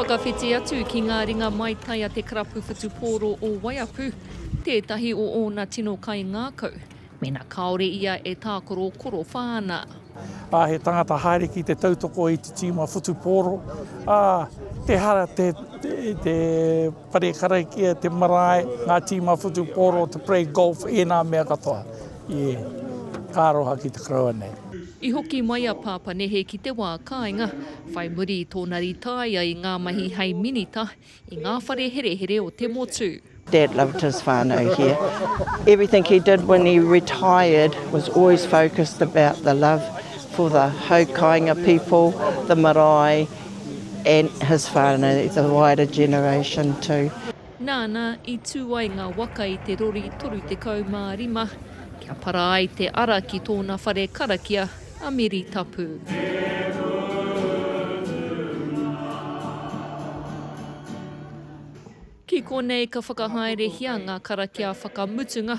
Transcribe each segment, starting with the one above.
Whakawhiti atu ki ngā ringa maitai a te karapu whutupōro o Waiapu, tētahi o ōna tino kaingākau, mēnā kāore ia e tākaro korowha ana. Ā, he tangata haere ki te tautoko i te tīma whutupōro, ā, te hara te, te, te Whare karakia, te marae, ngā tīma whutupōro, te play golf, ēnā mea katoa. Ie, ka aroha ki te koroua nei. I hoki mai a Pāpanehe ki te wā kāinga, whai muri i tōna rītāia i ngā mahi hei minita i ngā whare herehere o te motu. Dad loved his whānau here. Everything he did when he retired was always focused about the love for the hau kāinga people, the marae, and his whānau, the wider generation too. Nāna i tū ai ngā waka i te rori 35 kia para ai te ara ki tōna whare karakia a Meri Tapu. Ki konei ka whakahaerehia ngā karakia whakamutunga,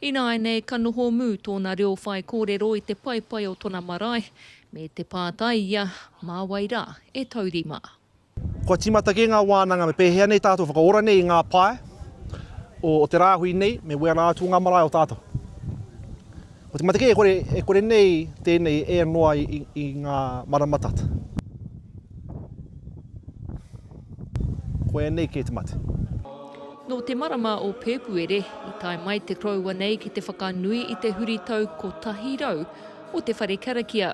Ināianei ka noho mū tōna reo whaikōrero i te paepae o tona marae, me te pātai ia, mā wai rā e taurima. Kua tīmata kē ngā wānanga me pēhea nei tātou whakaora nei i ngā pae o te rāhui nei me wera atu ngā marae o tātou. Kua tīmata kē e kore nei tēnei e noa i ngā marama tata. Koia nei kē te mate. Nō te marama o Pēpuere i tae mai te koroua nei ki te whakanui i te huritau 100 o te whare karakia.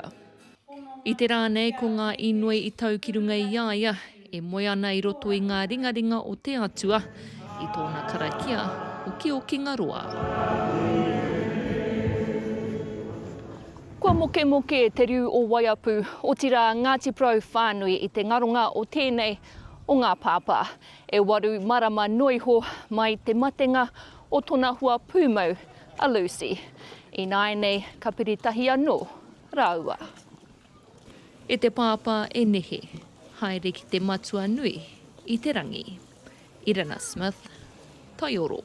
I te rā nei ko ngā inoi i tau ki runga i a ia e moe ana i roto i ngā ringaringa o te Atua i tōna karakia okiokinga roa. Kua mokemoke te riu o Waiapu, otirā Ngāti Porou whānui i te ngaronga o tēnei o ngā pāpā. E waru marama noa iho mai te matenga o tona hoa pūmau, a Lucy. Ināianei ka piri tahi anō rāua. E te Pāpā e nehe, haere ki te matua nui i te rangi. Irena Smith, Taioro.